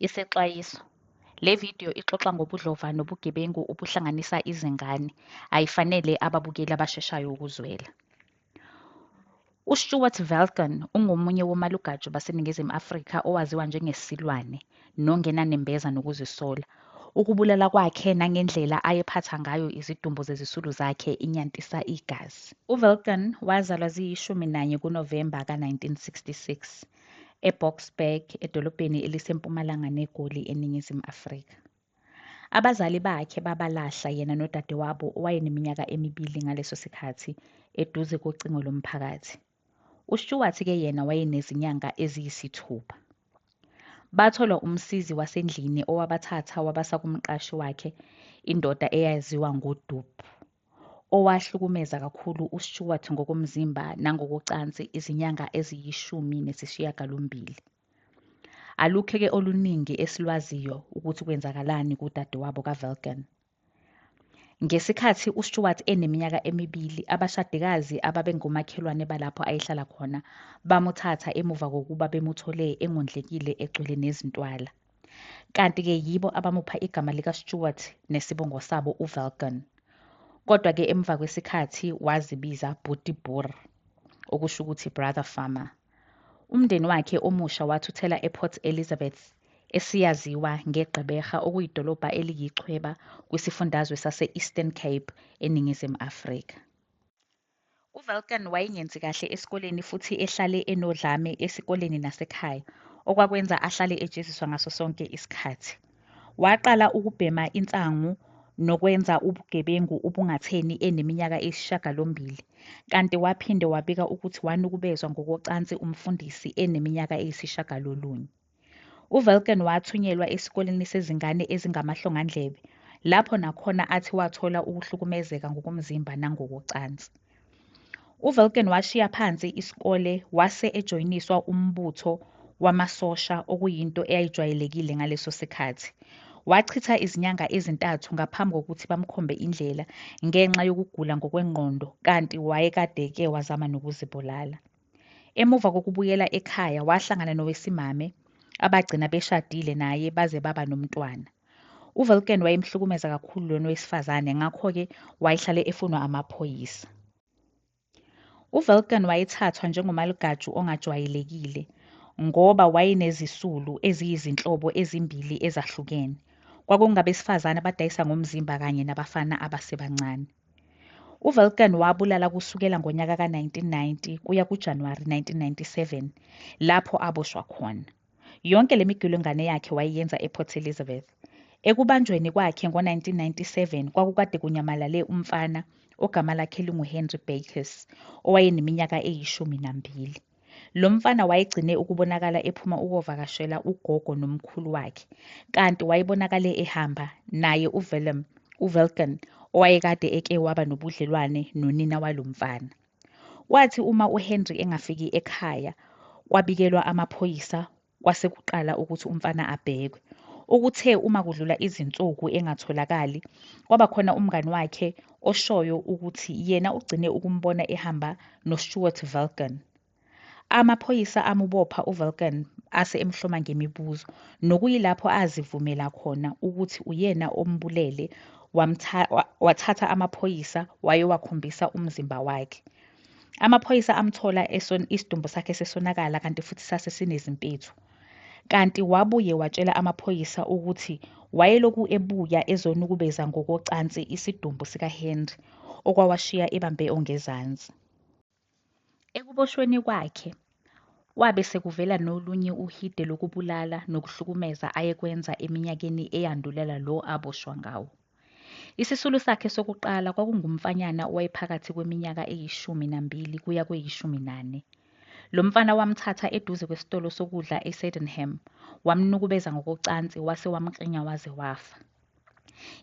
Isexwayiso. Le video ixoxa ngobudlova nobugebengu obuhlanganisa izingane. Ayifanele ababukeli abasheshayo ukuzwela. UStuart Velkan ungomunye womalugaju baseNingizimu Afrika owaziwa njengesilwane nongenanembeza nokuzisola. Ukubulala kwakhe nangendlela ayephatha ngayo izidumbu zezisulu zakhe inyantisa igazi. UVelkan wazalwa ziyishumi nanye kuNovemba ka-1966. eBoksburg, edolobheni elisempumalanga neGoli eNingizimu Afrika. Abazali bakhe babalahla yena nodadewabo owayeneminyaka emibili ngaleso sikhathi eduze kocingo lomphakathi. UStuart ke yena wayenezinyanga eziyisithupha. Bathola umsizi wasendlini owabathatha wabasa kumqashi wakhe, indoda eyaziwa ngoDup. owahlukumeza kakhulu uStewart ngokomzimba nangokocansi izinyanga eziyishumi nesishiyagalombili. Alukhe-ke oluningi esilwaziyo ukuthi kwenzakalani kudadewabo kaVelkan. Ngesikhathi uStewart eneminyaka emibili, abashadikazi ababengomakhelwane balapho ayehlala khona bamuthatha emuva kokuba bemuthole engondlekile egcwele nezintwala. kanti-ke yibo abamupha igama likaStewart nesibongo sabo uVelgan. Kodwa-ke emva kwesikhathi wazibiza Bhuti Boer, okusho ukuthi Brother Farmer. Umndeni wakhe omusha wathuthela ePort Elizabeth, esiyaziwa ngeGqeberha okuyidolobha eliyichweba kwisifundazwe sase-Eastern Cape eNingizimu Afrika. UVelkan wayengenzi kahle esikoleni futhi ehlale enodlame esikoleni nasekhaya, okwakwenza ahlale ejeziswa ngaso sonke isikhathi. Waqala ukubhema insangu nokwenza ubugebengu ubungatheni eneminyaka eyisishagalombili, kanti waphinde wabika ukuthi wanukubezwa ngokocansi umfundisi eneminyaka eyisishagalolunye. UVelkan wathunyelwa esikoleni sezingane ezingamahlongandlebe, lapho nakhona athi wathola ukuhlukumezeka ngokomzimba nangokocansi. UVelkan washiya phansi isikole wase ejoyiniswa umbutho wamasosha okuyinto eyayijwayelekile ngaleso sikhathi. Wachitha izinyanga ezintathu ngaphambi kokuthi bamkhombe indlela ngenxa yokugula ngokwengqondo kanti wayekade-ke wazama nokuzibulala. Emuva kokubuyela ekhaya wahlangana nowesimame abagcina beshadile naye baze baba nomntwana. UVelken wayemhlukumeza kakhulu lona wesifazane ngakho-ke wayehlale efunwa amaphoyisa. UVelken wayethathwa njengomalugaju ongajwayelekile ngoba wayenezisulu eziyizinhlobo ezimbili ezahlukene. Kwakungabesifazane abadayisa ngomzimba kanye nabafana abasebancane. UVelkan wabulala kusukela ngonyaka ka-1990 kuya kuJanuwari 1997 lapho aboshwa khona. Yonke le migilwengane yakhe wayeyenza ePort Elizabeth. Ekubanjweni kwakhe ngo-1997 kwakukade kunyamalale umfana ogama lakhe linguHenry Bakes owayeneminyaka eyishumi nambili. Lo mfana wayegcine ukubonakala ephuma ukovakashela ugogo nomkhulu wakhe, kanti wayebonakale ehamba naye uVellum, uVelkan, owayekade eke waba nobudlelwane nonina walo mfana. Kwathi uma uHenry engafiki ekhaya, kwabikelwa amaphoyisa Kwase kuqala ukuthi umfana abhekwe. Ukuthe uma kudlula izinsuku engatholakali, kwaba khona umngani wakhe oshoyo ukuthi yena ugcine ukumbona ehamba noStuart Vulcan. Amaphoyisa amubopha uVulcan ase emhloma ngemibuzo, nokuyilapho azivumela khona ukuthi uyena ombulele, wathatha amaphoyisa wayowakhombisa umzimba wakhe. Amaphoyisa amthola eson isidumbu sakhe sesonakala kanti futhi sase sinezimpethu. Kanti wabuye watshela amaphoyisa ukuthi wayeloku ebuya ezonukubeza ngokocansi isidumbu sikaHenry okwawashiya ebambe ongezansi. Ekuboshweni kwakhe, Kwabe sekuvela nolunye uhide lokubulala nokuhlukumeza ayekwenza eminyakeni eyandulela lo aboshwa ngawo. Isisulu sakhe sokuqala kwakungumfanyana owayephakathi kweminyaka eyishumi nambili kuya kweyishumi nane. Lo mfana wamthatha eduze kwesitolo sokudla eSydenham, wamnukubeza ngokocansi wase wamkrinya waze wafa.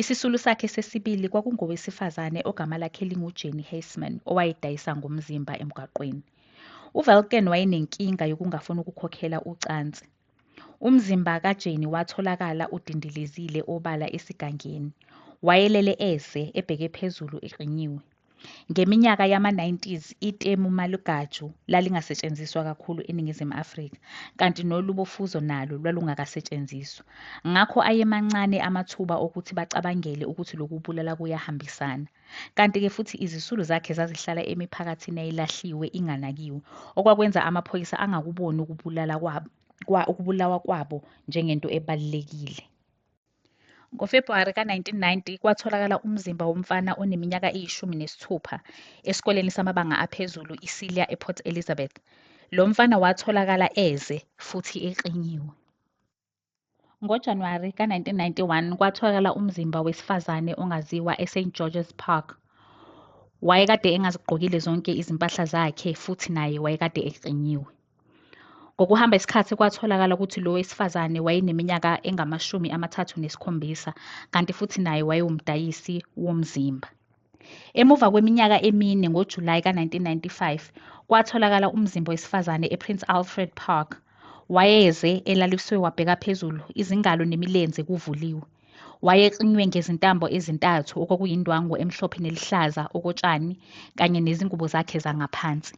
Isisulu sakhe sesibili kwakungowesifazane ogama lakhe linguJenny Heisman owayedayisa ngomzimba emgwaqweni. UVelken wayenenkinga yokungafuni ukukhokhela ucansi. Umzimba kaJenny watholakala udindilizile obala esigangeni. Wayelele eze ebheke phezulu eqinyiwe. Ngeminyaka yama-90s itemu malugaju lalingasetshenziswa kakhulu eNingizimu Afrika, kanti nolubo fuzo nalo lwalungakasetshenziswa. Ngakho ayemancane amathuba okuthi bacabangele ukuthi lokubulala kuyahambisana. Kanti-ke futhi izisulu zakhe zazihlala emiphakathini eyayilahliwe inganakiwe, okwakwenza amaphoyisa angakuboni ukubulala kwabo, kwa, ukubulawa kwabo njengento ebalulekile. NgoFebhuwari ka-1990 kwatholakala umzimba womfana oneminyaka eyishumi nesithupha esikoleni samabanga aphezulu iSilia ePort Elizabeth. Lo mfana watholakala eze futhi exinyiwe. NgoJanuwari ka-1991 kwatholakala umzimba wesifazane ongaziwa eSt George's Park. Wayekade engazigqokile zonke izimpahla zakhe futhi naye wayekade exinyiwe. Ngokuhamba isikhathi kwatholakala ukuthi lo wesifazane wayeneminyaka engamashumi amathathu nesikhombisa kanti futhi naye wayewumdayisi womzimba. Emuva kweminyaka emine ngoJulayi ka-1995 kwatholakala umzimba wesifazane ePrince Alfred Park. Wayeze elaliswe wabheka phezulu, izingalo nemilenze kuvuliwe. Wayexinwe ngezintambo ezintathu okwakuyindwangu emhlophe neluhlaza okotshani kanye nezingubo zakhe zangaphansi.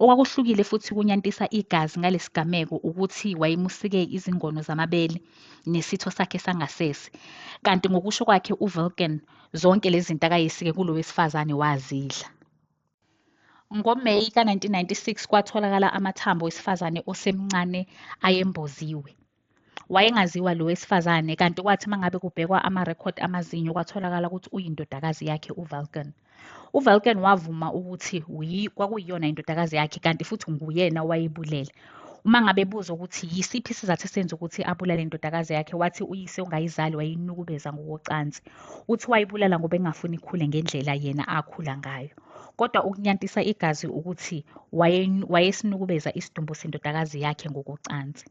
Okwakuhlukile futhi kunyantisa igazi ngalesigameko ukuthi wayemusike izingono zamabele nesitho sakhe sangasese. Kanti ngokusho kwakhe uVilken zonke lezi zinto akayesike kulo wesifazane wazidla. NgoMeyi ka-1996 kwatholakala amathambo wesifazane osemncane ayemboziwe. Wayengaziwa lo wesifazane kanti kwathi uma ngabe kubhekwa amarekhodi amazinyo kwatholakala ukuthi uyindodakazi yakhe uValken. UValken wavuma ukuthi kwakuyiyona indodakazi yakhe kanti futhi nguyena owayibulele. Uma ngabe ebuzwa ukuthi yisiphi isizathu esenza ukuthi abulale indodakazi yakhe wathi uyise ongayizali wayinukubeza ngokocansi. Uthi wayibulala ngoba engafuni ikhule ngendlela yena akhula ngayo. Kodwa ukunyantisa igazi ukuthi wayesinukubeza isidumbu sendodakazi yakhe ngokocansi.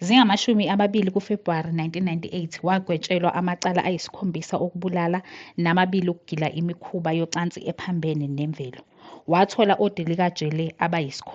Zingamashumi amabili kuFebhuwari 1998 wagwetshelwa amacala ayisikhombisa okubulala namabili okugila imikhuba yocansi ephambene nemvelo. Wathola odilika jele abayisikhombisa.